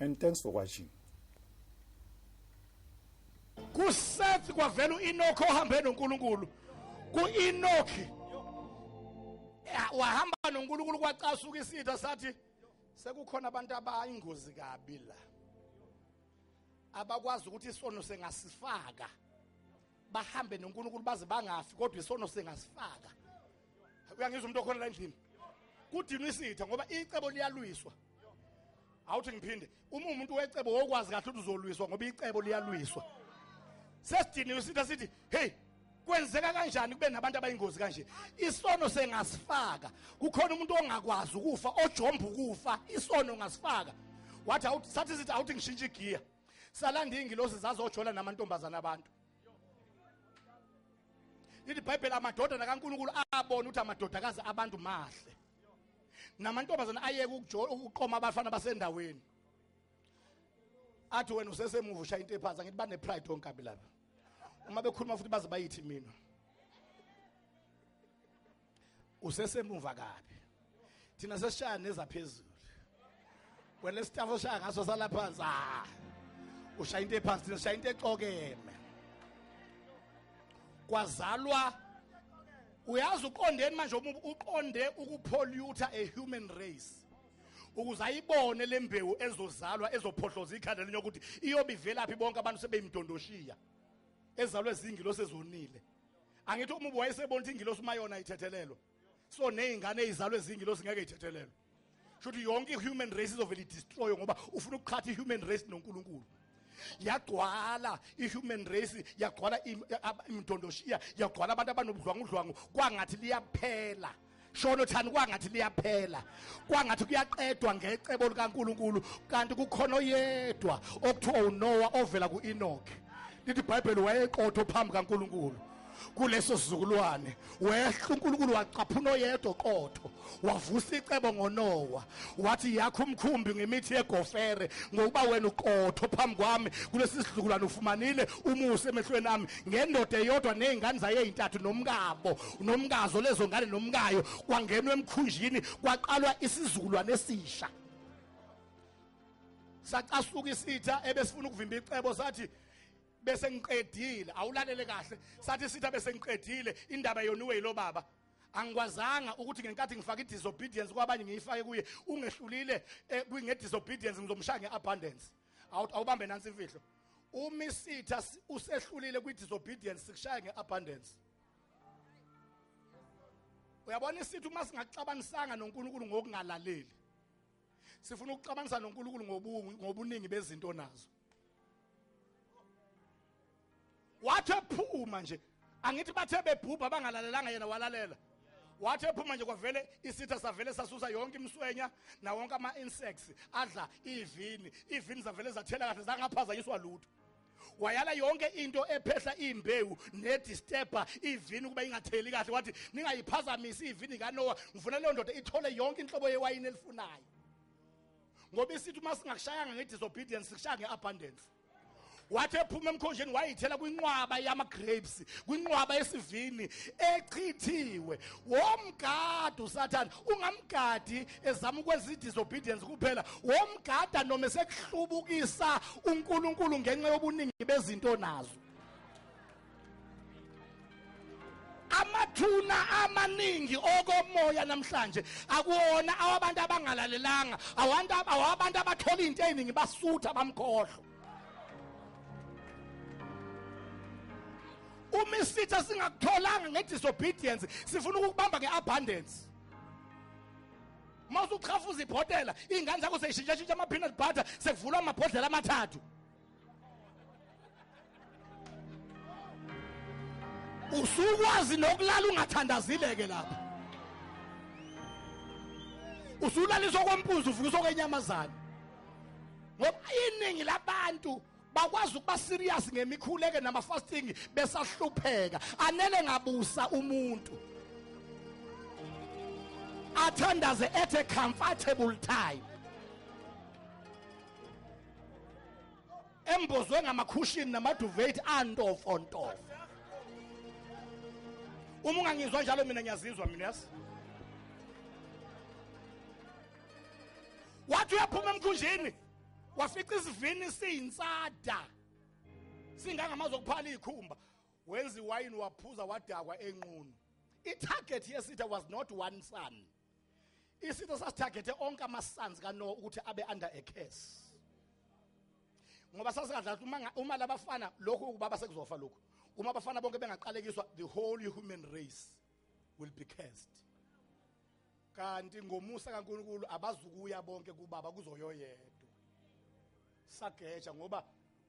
and thanks for watching kusethi kwavela uEnoch ohambe noNkulunkulu kuEnoch wahamba noNkulunkulu kwacasuka isitha sathi sekukhona abantu abayingozi kabi la abakwazi ukuthi isono sengasifaka bahambe noNkulunkulu baze bangafi kodwa isono sengasifaka uyangizwa umuntu okhona la endlini kudinwa isitha ngoba icebo liyalwiswa awuthi ngiphinde uma umuntu wecebo wokwazi kahle ukuthi uzolwiswa ngoba icebo liyalwiswa sesidiniwe isitha sithi hey kwenzeka kanjani kube nabantu abayingozi kanje isono sengasifaka kukhona umuntu ongakwazi ukufa ojomba ukufa isono ngasifaka wathi sathi sithi awuthi ngishintshe igiya salanda ingilosi zazojola namantombazana abantu lithi ibhayibheli amadodana kankulunkulu abona ukuthi amadodakazi abantu mahle namantombazane ayeke ukuqoma abafana basendaweni athi wena usesemuva ushaya into ephansi angithi bane-pride onkabi lapha uma bekhuluma futhi baze bayithi mina usesemuva kabi thina sesishaya nezaphezulu wena isitafu oshaya ngaso sala phansi ah ushaya into ephansi thina ushaya into exokeme kwazalwa uyazi uqondeni manje uqonde ukupollute a human race ukuze ayibone lembewu ezozalwa ezophohloza ikhanda lenye ukuthi iyobivelaphi bonke abantu sebeyimdondoshiya ezalwe zingi losezonile angithi umubi wayesebona ukuthi ingilosi uma yona ithethelelwa so ney'ngane eyizalwe zingilosi ngeke ithethelelwe shuthi yonke i-human race izovele idestroywe ngoba ufuna ukuqhatha i-human race nonkulunkulu yagcwala i-human race yagcwala imdondoshiya yagcwala abantu abanobudlwangudlwangu kwangathi liyaphela shono thani kwangathi liyaphela kwangathi kuyaqedwa ngecebo likaNkuluNkulu kanti kukhona oyedwa okuthiwa uNowa ovela kuEnoch lithi iBhayibheli wayeqotho phambi kaNkuluNkulu kuleso sizukulwane wehla uNkulunkulu wacaphuna oyedwa qotho wavusa icebo ngoNowa wathi yakho umkhumbi ngemithi yegofere ngokuba wena uqotho phambi kwami kulesi sizukulwane ufumanile umusa emehlweni ami ngendoda eyodwa nezingane zayo ezintathu nomkabo nomkazo lezo ngane nomkayo kwangenwa emkhunjini kwaqalwa isizukulwane esisha sacasuka isitha ebesifuna ukuvimba icebo sathi bese ngiqedile awulalele kahle sathi isitha bese ngiqedile indaba yoniwe yilo baba angikwazanga ukuthi ngenkathi ngifaka i-disobedience kwabanye ngiyifake kuye ungehlulile eh, kwinge-disobedience ngizomshaya nge-abundance awubambe nansi imfihlo uma isitha usehlulile kwi-disobedience sikushaya nge-abundance uyabona isithi uma singaxabanisanga nonkulunkulu ngokungalaleli sifuna ukuxabanisa nonkulunkulu ngobuningi bezinto nazo wathi ephuma nje angithi bathe bebhubha bangalalelanga yena walalela wathi ephuma nje kwavele isitha savele sasusa yonke imswenya na wonke ama insects adla ivini ivini zavele zathela kahle zangaphazanyiswa lutho wayala yonke into ephehla imbewu nedisturber ivini ukuba ingatheli kahle wathi ningayiphazamisi ivini kaNoah ngifuna leyo ndoda ithole yonke inhlobo yewayini elifunayo ngoba isithi uma singakushayanga nge-disobedience sikushaya nge-abundance wathi ephuma emkhonjeni wayithela kwinqwaba yama-grapes kwinqwaba yesivini echithiwe womgadi usathane ungamgadi ezama ukwenza i-disobedience kuphela womgada noma esekuhlubukisa unkulunkulu ngenxa yobuningi bezinto nazo amathuna amaningi okomoya namhlanje akuwona awabantu abangalalelanga awantu awabantu abathola into eziningi basutha bamkhohlo uma isitha singakutholanga ngedisobedience sifuna ukukubamba ngeabundance mawusuchafuza ibhotela ingane zakho seyishintsha shintsha ama peanut butter sekuvulwa amabhodlela amathathu usukwazi nokulala ungathandazile-ke lapha usulaliswa kwampunzi uvukiswa kwenyamazane ngoba iningi labantu bakwazi ukuba serious ngemikhuleke nama fasting besahlupheka anele ngabusa umuntu athandaze at a comfortable time embozwe ngamakhushini namaduvethi antofontofo uma ungangizwa njalo mina ngiyazizwa mina yazi wathi uyaphuma emkhunjini wafica isivini siyinsada singangamazi okuphala ikhumba wenza iwayini waphuza wadakwa enqunu itarget yesitha was not one son isitho sasithagethe onke amasanzi kanoa ukuthi abe under a curse ngoba sasikadla uma uma labafana lokhu ukubaba sekuzofa lokhu uma abafana bonke bengaqalekiswa the whole human race will be cursed kanti ngomusa kaNkuluNkulu abazukuya bonke kubaba kuzoyoyedwa sageja ngoba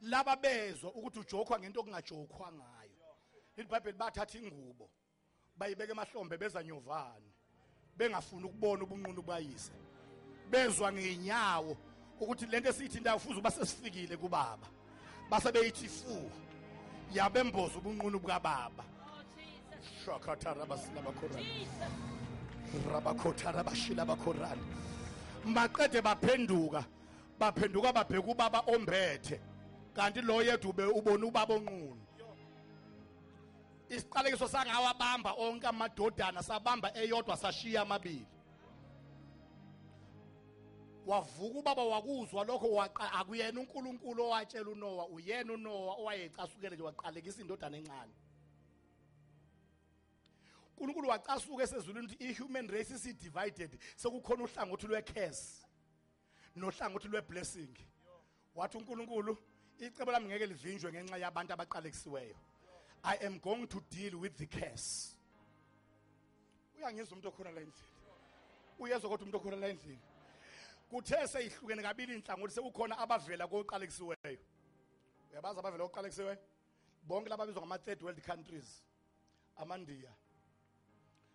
laba bezwa ukuthi ujokhwa ngento okungajokhwa ngayo libhayibheli bathatha ingubo bayibeka emahlombe beza nyovane bengafuni ukubona ubunqunu bayise bezwa ngenyawo ukuthi lento esiyithi ndawo fuze uba sesifikile kubaba base beyithi fu yabemboza ubunqunu bukababa shakatarabasilabakhorabi rabakhotarabashilabakhorani maqede baphenduka baphenduka babheka ubaba ombethe kanti lo yedwa ube ubona ubaba onqunu isiqalekiso sangawabamba onke amadodana sabamba eyodwa sashiya amabili wavuka ubaba wakuzwa lokho waqa akuyena uNkulunkulu owatshela uNowa uyena uNowa owayecasukele nje waqalekisa indodana encane uNkulunkulu wacasuka esezulwini ukuthi i-human race isi-divided sekukhona uhlangothi lwe-curse nohlangothi lweblessing wathi uNkulunkulu icebo lami ngeke livinjwe ngenxa yabantu abaqalekisiweyo i am going to deal with the curse uyangizwa umuntu okhona la endlini uyezwa kodwa umuntu okhona la endlini kuthe seyihlukene kabili inhlangothi sekukhona abavela koqalekisiweyo uyabazi abavela koqalekisiweyo bonke lababizwa ngama third world countries amandiya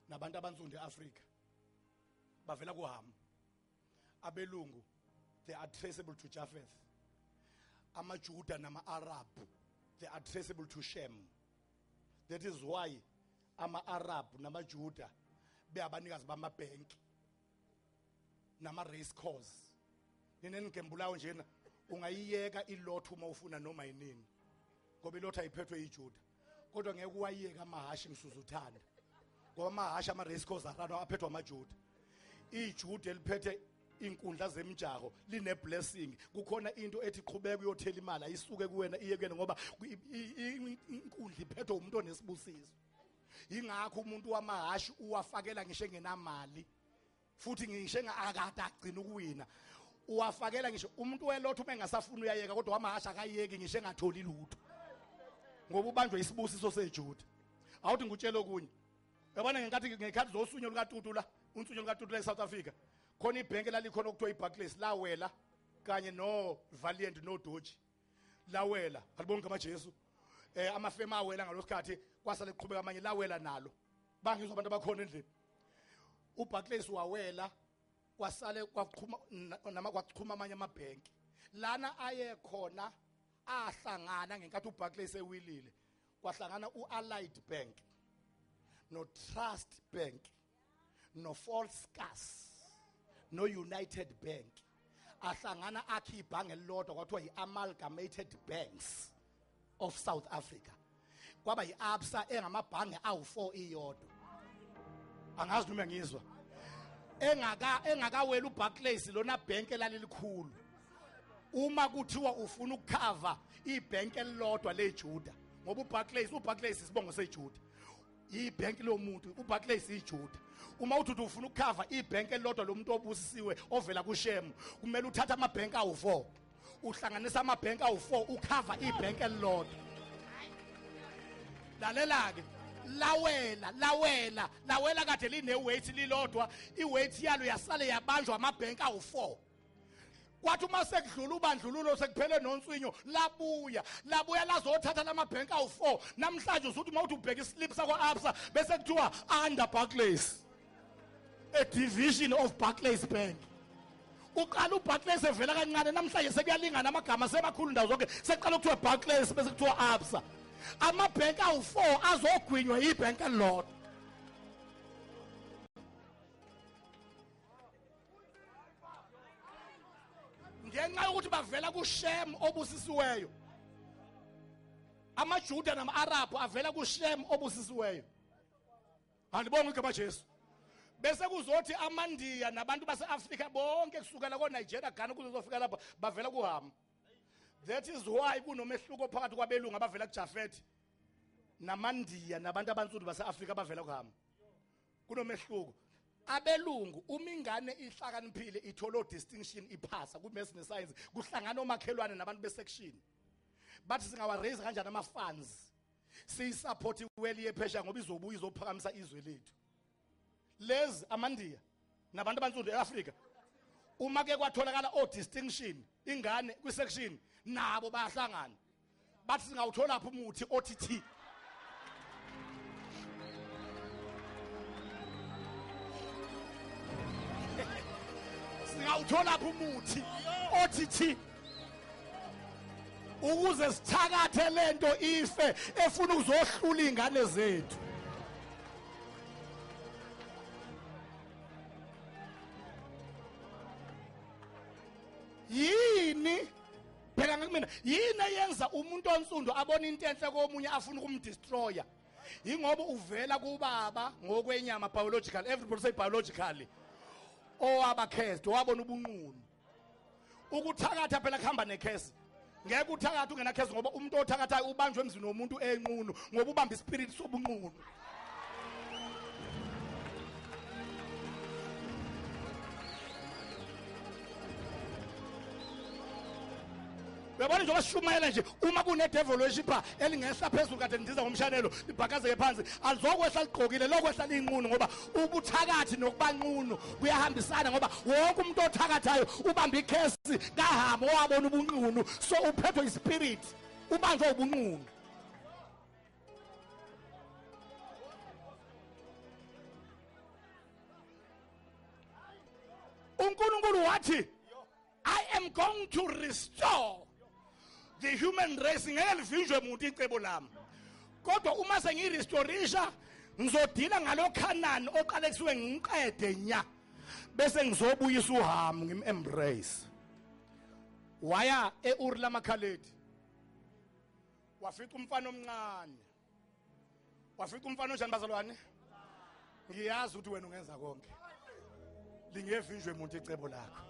nabantu abansundu eAfrika bavela kuhamu abelungu they are traceable to Japheth amajuda nama-arab they are traceable to shem that is why ama-arab namajuda beyabanikazi bamabhenki nama-race cause nina nigembulayo njena ungayiyeka ilotho uma ufuna noma yinini ngoba ilotho ayiphethwe yijuda kodwa ngeke uwayeke amahhashi ngisuzuthanda ngoba amahhashi ama-race course arano aphethwa amajuda ijuda eliphethe inkundla zemjaho line blessing kukhona into ethi qhubeka uyothela imali ayisuke kuwena iye kuyena ngoba inkundla iphethwe umuntu onesibusiso ingakho umuntu wamahashi uwafakela ngisho engenamali futhi ngisho engakade agcina ukuwina uwafakela ngisho umuntu welotho uma engasafuni uyayeka kodwa wamahasha akayeki ngisho engatholi lutho ngoba ubanjwe isibusiso sejuda awuthi ngikutshele okunye yabona ngenkathi ngekhathi zosunyo lukatutu la unsunyo lukatutu la e-south africa khona ibhenki lalikhona okuthiwa ibarclays lawela kanye novaliant nodoji lawela alibonke amajesu um amafemu awela ngalo sikhathi kwasale kuqhubeka amanye lawela nalo bangizwa abantu abakhona endlini uBarclays wawela kwasale kwaqhuma nama kwaqhuma amanye amabhenki lana aye khona ahlangana ngenkathi uBarclays ewilile kwahlangana uAllied Bank no Trust Bank no Falscas no United Bank ahlangana akhe ibhange elilodwa kwathiwa yi-amalgamated banks of south africa kwaba yi-absa engamabhange awu-four iyodwa angazi noma ngizwa engaka engakawela uBarclays lona bank elalilikhulu uma kuthiwa ufuna ukukhava ibank elilodwa leJuda ngoba uBarclays uBarclays isibongo seJuda ibhenki lomuntu uBarclays iJuda uma uthi ufuna ukukhava ibhenki elilodwa lomuntu obusisiwe ovela kuShem kumele uthathe amabhenki awu4 uhlanganisa amabhenki awu4 ukhava ibhenki elilodwa lalela ke lawela lawela lawela kade line weight lilodwa iweight yalo yasale yabanjwa amabhenki awu4 kwathi uma sekudlula ubandlululo sekuphele nonswinyo labuya labuya lazothatha lamabhenki awu-four namhlanje usuthi uma uthi ubheka islip sakwa-absa bese kuthiwa under barclays a division of barclays bank uqala ubarclays evela kancane namhlanje sekuyalingana amagama semakhulu ndawo zonke sekuqala kuthiwa barclays bese kuthiwa absa amabhenki awu-four azogwinywa yibhenki elilodwa ngenxa yokuthi bavela kushem obusisiweyo amajuda nama-arabhu avela kushem obusisiweyo andibonga igama jesu bese kuzothi amandiya nabantu base-afrika bonke kusukela konigeria ghana kuzozofika lapha bavela kuhama that is why kunomehluko phakathi kwabelungu abavela kujafethi namandiya nabantu abansundu base-afrika abavela kuhama kunomehluko abelungu uma ingane ihlakaniphile ithola distinction iphasa ku maths ne science kuhlangana omakhelwane nabantu be section but singawa raise kanjani ama funds siyi support iweli yephesha ngoba izobuya izophakamisa izwe lethu lezi amandiya nabantu abansundu eAfrika uma ke kwatholakala o distinction ingane kwi section nabo bayahlangana bathi singawutholaphi umuthi othi thi singawutholaphi umuthi othi thi ukuze sithakathe lento ife efuna ukuzohlula izingane zethu yini bheka ngakumina yini eyenza umuntu onsundu abona into enhle komunye afuna ukumdestroya yingoba uvela kubaba ngokwenyama biological everybody say biologically owabakhezde wabona ubunqunu ukuthakatha phela kuhamba nekhesi ngeke uthakatha ungenakhesi ngoba umuntu othakathayo ubanjwe emzini womuntu enqunu ngoba ubamba ispirit sobunqunu uyabona njengoba sishumayela nje uma kunedevil weshipha elingehla phezulu kade ndiza ngomshanelo libhakazeke phansi alizokwehla ligqokile lokwehla liyinqunu ngoba ubuthakathi nokubanqunu kuyahambisana ngoba wonke umuntu othakathayo ubamba ikhesi kahama owabona ubunqunu so uphethwe ispirit ubanjwa ubunqunu uNkulunkulu wathi I am going to restore the human race ngeke livinjwe muntu icebo lami kodwa uma sengirestorisha ngizodila ngalokhanani oqale kusuke ngiqede nya bese ngizobuyisa uhamu ngim embrace waya eUr lamakhaledi wafica umfana omncane wafica umfana onjani bazalwane ngiyazi ukuthi wena ungenza konke lingevinjwe muntu icebo lakho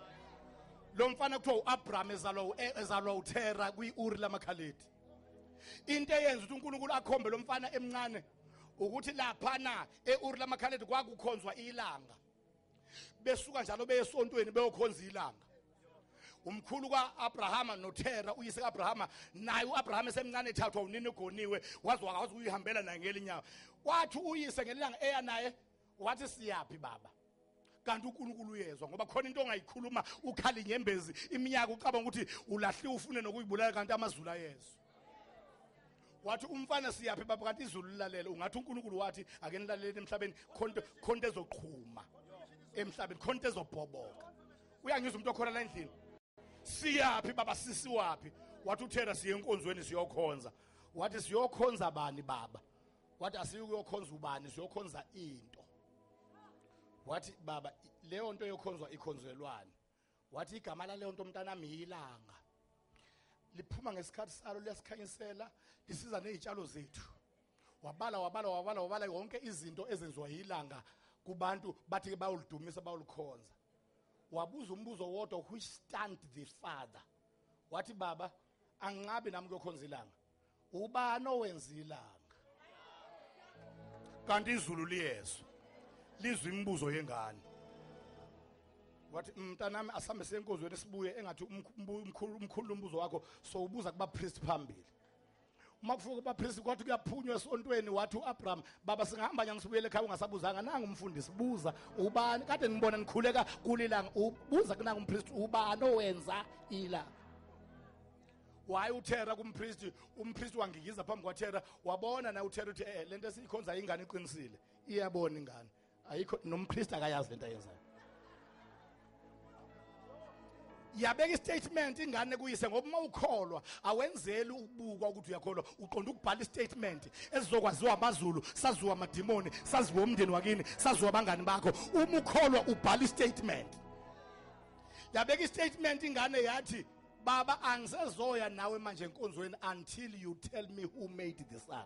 lo mfana kuthiwa u-abraham ezalwa e, ezalwa uthera kwi-uri lamakhaledi into eyenza ukuthi unkulunkulu akhombe lo mfana emncane ukuthi laphana e-uri lamakhaledi kwakukhonzwa ilanga besuka njalo beye esontweni beyokhonza ilanga umkhulu ka-abrahama nothera uyise ka-abrahama naye u-abrahama esemncane ethathwa unini ugoniwe waze wakwazi ukuyihambela naye ngelinyawo wathi uyise ngelilanga eya naye wathi siyaphi baba kanti uNkulunkulu uyezwa ngoba khona into ongayikhuluma ukhali nyembezi iminyaka ucabanga ukuthi ulahliwe ufune nokuyibulala kanti amazulu ayezwa wathi umfana siyaphi baba kanti izulu lilalele ungathi uNkulunkulu wathi ake nilaleleni emhlabeni khonto khonto ezoqhuma emhlabeni khonto ezobhoboka uyangizwa umuntu okhona la endlini siyaphi baba sisi waphi wathi uthera siye enkonzweni siyokhonza wathi siyokhonza bani baba wathi asiyukuyokhonza ubani siyokhonza into wathi baba leyo nto yokhonzwa ikhonzelwani wathi igama laleyo nto mntanami yilanga liphuma ngesikhathi salo liyasikhanyisela lisiza nezitshalo zethu wabala wabala wabala wabala yonke izinto ezenziwa yilanga kubantu bathi ke bayolidumisa bayolikhonza wabuza umbuzo wodwa who stand the father wathi baba anginqabi nami kuyokhonza ilanga ubani owenza ilanga kanti izulu liyezwa lizwa imibuzo yengane wathi mm, mntanami asambe senkozweni sibuye engathi umkhulu umkhulu umbuzo wakho so ubuza kuba priest phambili uma kufuka kuba priest kwathi kuyaphunywa esontweni wathi uAbraham baba singahamba nyanga sibuyele ekhaya ungasabuzanga nangu umfundisi buza ubani kade ngibona nikhuleka kulilanga ubuza kunanga umpriest ubani owenza ilanga waye uthera kumpristi umpristi wangikiza phambi kwathera wabona na uthera uthi eh lento esiyikhonza ingane iqinisile iyabona ingane ayikho nompristi akayazi lento ayenzayo yabeka istatement ingane kuyise ngoba uma ukholwa awenzeli ukubukwa ukuthi uyakholwa uqonda ukubhala istatement esizokwaziwa amazulu saziwa amadimoni saziwa umndeni wakini saziwa abangani bakho uma ukholwa ubhala istatement yabeka istatement ingane yathi baba angisezoya nawe manje enkonzweni until you tell me who made the sun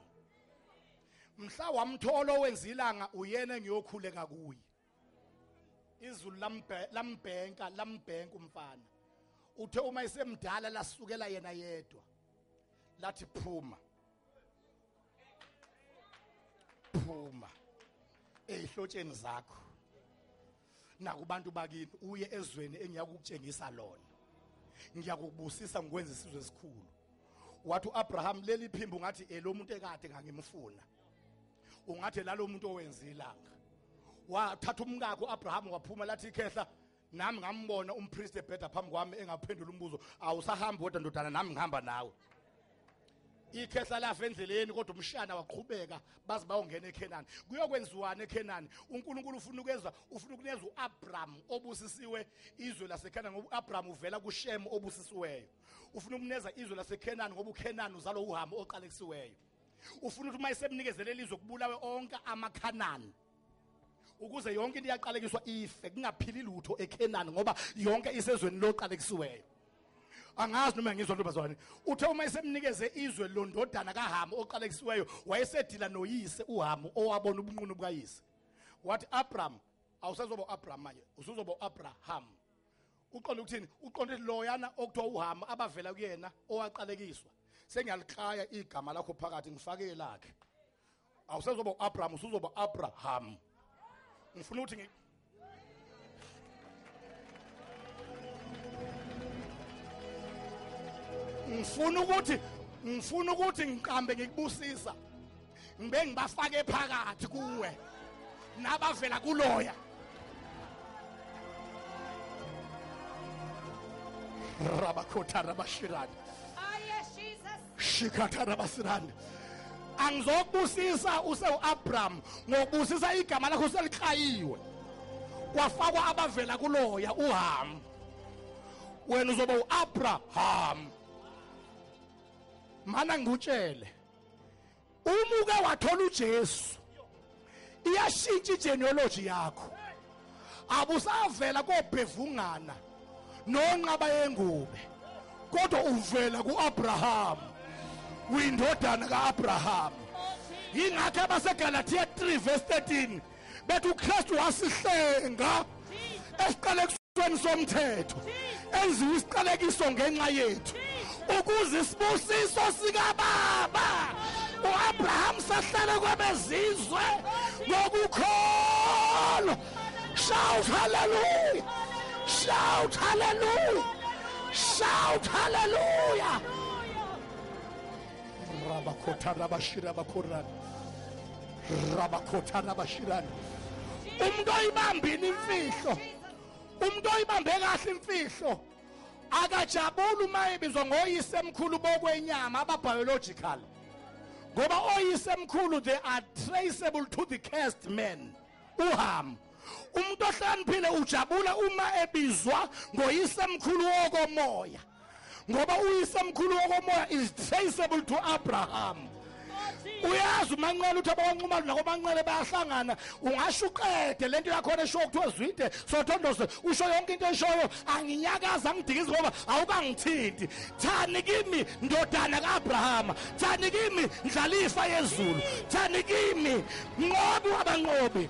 mhla wamthola owenza ilanga uyena engiyokhuleka kuye izulu lambhenka lambhenka umfana uthe uma esemdala lasukela yena yedwa lathi phuma phuma ezihlotsheni zakho nakubantu bakini uye ezweni engiyakukutshengisa lona ngiyakubusisa ngikwenza isizwe esikhulu wathi uAbraham leli phimbo ngathi elomuntu ekade ngangimfuna ungathi lalomuntu owenza ilanga wathatha umkakhe uAbraham waphuma lathi ikhehla nami ngambona umpriest ebheda phambi kwami engaphendula umbuzo awusahambi wedwa ndodana nami ngihamba nawe ikhehla lafa endleleni kodwa umshana waqhubeka baze bayongena eKhenani kuyokwenziwana eKhenani uNkulunkulu ufuna ukweza ufuna ukuneza uAbraham obusisiwe izwe laseKhenani ngoba uAbraham uvela kuShem obusisiweyo ufuna ukuneza izwe laseKhenani ngoba uKhenani uzalo uHamu oqalekisiweyo ufuna ukuthi uma esemnikezele lizwe kubulawe onke amaKhanani ukuze yonke into iyaqalekiswa ife kungaphili lutho eKhenani ngoba yonke isezweni loqalekisiweyo angazi noma ngizwa ntombazane uthe uma esemnikeze izwe londodana kaHamu oqalekisiweyo wayesedila noyise uHamu owabona ubunqunu bukayise wathi Abram awusazoba uAbram manje usuzoba uAbraham uqonda ukuthini uqonda loyana okuthiwa uHamu abavela kuyena owaqalekiswa sengiyalikaya igama lakho phakathi ngifake lakhe awusezoba uAbraham usuzoba Abraham ngifuna ukuthi ngi ngifuna ukuthi ngifuna ukuthi ngiqambe ngikubusisa ngibe ngibafake phakathi kuwe nabavela kuloya rabakhotha rabashirani shikhathana basirande angizokubusisa usewu-abraham ngokubusisa igama lakho seliklayiwe kwafakwa abavela kuloya uhamu wena uzoba u-abraham mana ngikutshele uma uke wathola uJesu iyashintsha igenealogy yakho abusavela kobhevungana nonqaba yengube kodwa uvela kuAbraham uyindodana kaAbraham yingakho abaseGalatia 3 verse 13 bethi uKristu wasihlenga esiqalekisweni somthetho enziwa isiqalekiso ngenxa yethu ukuze isibusiso sikababa uAbraham sahlale kwabezizwe ngokukholwa shout hallelujah shout hallelujah shout hallelujah rabakhotha rabashira bakhorana rabakhotha rabashirana umuntu oyibambini imfihlo umuntu oyibambe kahle imfihlo akajabuli uma ebizwa ngoyise emkhulu bokwenyama ababiological ngoba oyise emkhulu they are traceable to the cast man uham umuntu ohlaniphile ujabula uma ebizwa ngoyise emkhulu wokomoya ngoba uyisemkhulu wokomoya is traceable to abraham uyazi umanqele uthi abawanqumali nakomanqele bayahlangana ungasho uqede le nto yakhona eshoyo kuthiwa zwide sothondose usho yonke into eshoyo anginyakazi angidikizi ngoba awukangithinti thani kimi ndodana ka-abrahama thani kimi ndlalifa yezulu thani kimi nqobi wabanqobi